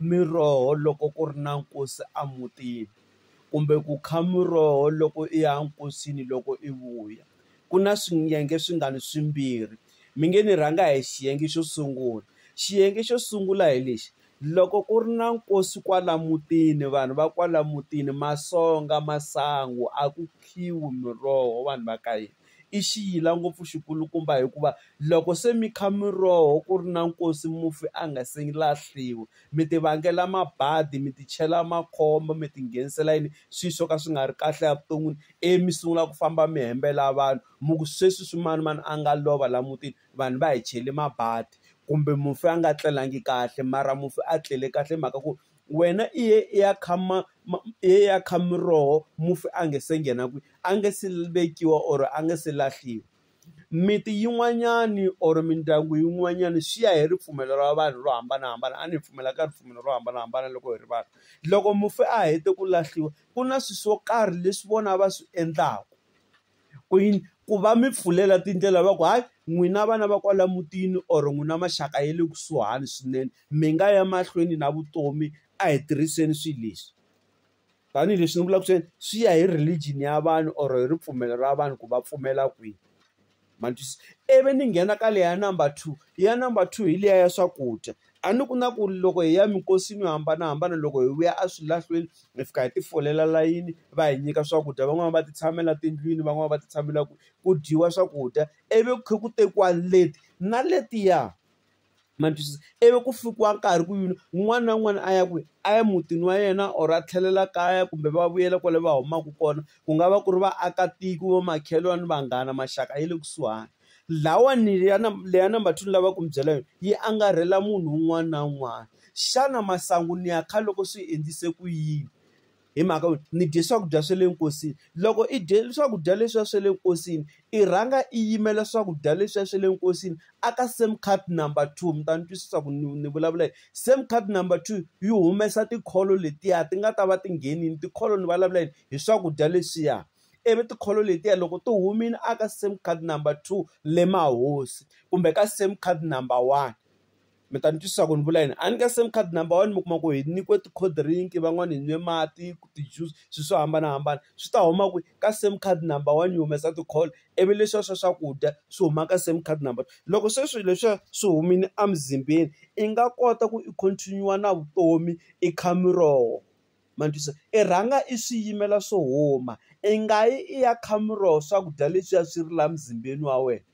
miroho loko ku ri na nkosi emutini kumbe ku kha muroho loko i ya nkosini loko i vuya ku na swiyenge swi nga ni swimbirhi mi nge ni rhanga hi xiyenge xo sungula xiyenge xo sungula hi lexi loko ku ri na nkosi kwala mutini vanhu va kwala mutini matsonga masangu a ku khiwa miroho vanhu va ka hina. i xiyila ngopfu xi kulukumba hikuva loko se mi kha miroho ku ri na nkosi mufi a nga se lahliwi mi ti vangela mabadi mi ti chela makhombo mi ti nghenisela yini swi swo ka swi nga ri kahle evuton'wini ivi mi sungula ku famba mi hembela vanhu mi ku sweswi swi manimani a nga lova laha mutini vanhu va hi chele mabadi kumbe mufi a nga tlelangi kahle mara mufi a tlele kahle hi mhaka ku. Wena i ye i ya kha ma ma i ye i ya kha miroho mufi a nga se nghena kwihi? A nga se vekiwa or a nga se lahliwa. Miti yin'wanyani or mindyangu yin'wanyani swi ya hi ripfumelo ra vanhu ro hambanahambana a ni pfumela ka ripfumelo ro hambanahambana loko hi ri vanhu. Loko mufi a hete ku lahliwa ku na swilo swo karhi leswi vona va swi endlaka. Ku yini? Ku va mi pfulela tindlela va ku hayi n'wina vana va kwala mutini or n'wina maxaka ya le kusuhani swinene mi nga ya mahlweni na vutomi a hi tirhiseni swilo leswi. Tanihi leswi ni vulaka ku ri swi ya hi religion ya vanhu or hi ripfumelo ra vanhu ku va pfumela kwihi. Ma twisisa? Ivi ni nghena ka leyi ya number two, ya number two hi liya ya swakudya. A ni ku na ku loko hi ya minkosini yo hambanahambana loko hi vuya a swilahlweni hi fika hi ti folela layini va hi nyika swakudya van'wani va ti tshamela tindlwini van'wani va ti tshamela ku ku dyiwa swakudya ivi ku kha ku tekiwa leti na letiya ma twisisa ivi ku fikiwa nkarhi ku yini un'wana na un'wana a ya kwihi a ya mutini wa yena or a tlhelela kaya kumbe va vuyela kwale va humaka kona ku nga va ku ri vaakatiko va makhelwani vanghana maxaka ya le kusuhani. Lawani ya leya number two ni lava ku mi byela yona yi angarhela munhu un'wana na un'wana. Xana masangu ni ya kha loko swi endlise ku yini? Hi mhaka yo ni dye swakudya swa le nkosini. Loko i dye swakudya leswiya swa le nkosini, i rhanga i yimela swakudya leswiya swa le nkosini a ka same card number two. Mi ta ni twisisa ku ni ni vulavula yini. Same card number two yi humesa tikholo letiya ti nga ta va ti nghenile, tikholo ni vulavula yini hi swakudya leswiya. ivi ti-call letiya loko ti humile a ka sim card number two le mahosi kumbe ka sim card number one mi ta ni twisisa ku ni vula yini a ni ka sim card number one mi kuma ku hi nyikiwe ti-cold drink van'wani hi nwe mati ti-juice swi swo hambanahambana swi ta huma kwihi ka sim card number one yi humesa ti-call ivi leswiya swa swakudya swi huma ka sim card number loko se swilo leswiya swi humile emuzimbeni i nga kota ku i continue na vutomi i kha miroho. ma ni twisisa i rhanga i swi yimela swi huma i nga yi i ya kha muroho swakudya leswiya swi ri laha muzimbeni wa wena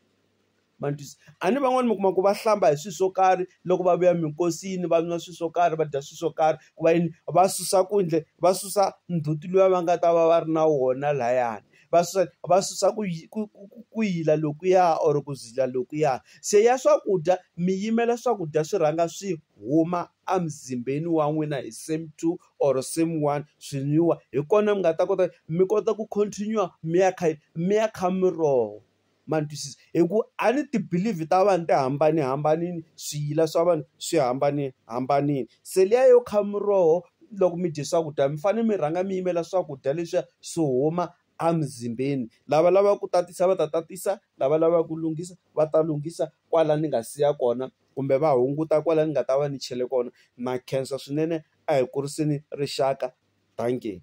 ma ni twisisa a ni van'wani mi kuma ku va hlamba hi swilo swo karhi loko va vuya minkosini va nwa swilo swo karhi va dya swilo swo karhi ku va yini va susa ku endle va susa ndzhuti luya va nga ta va va ri na wona layani va susa va susa ku ku ku ku ku yila lokuya or ku zila lokuya se ya swakudya mi yimela swakudya swi rhanga swi huma a muzimbeni wa n'wina hi same two or same one swi nwiwa hi kona mi nga ta kota mi kota ku continue mi ya kha mi ya kha miroho ma ni twisisa hi ku a ni ti believe ta vanhu ti hambanihambanile swiyila swa vanhu swi hambanihambanile se liya yo kha miroho loko mi dye swakudya mi fanele mi rhanga mi yimela swakudya leswiya swo huma a muzimbeni lava lavaka ku tatisa va ta tatisa lava lavaka ku lunghisa va ta lunghisa kwala ni nga siya kona. kumbe va hunguta kwala ni nga ta va ni chele kona na khensa swinene a hi kuriseni rixaka dankie.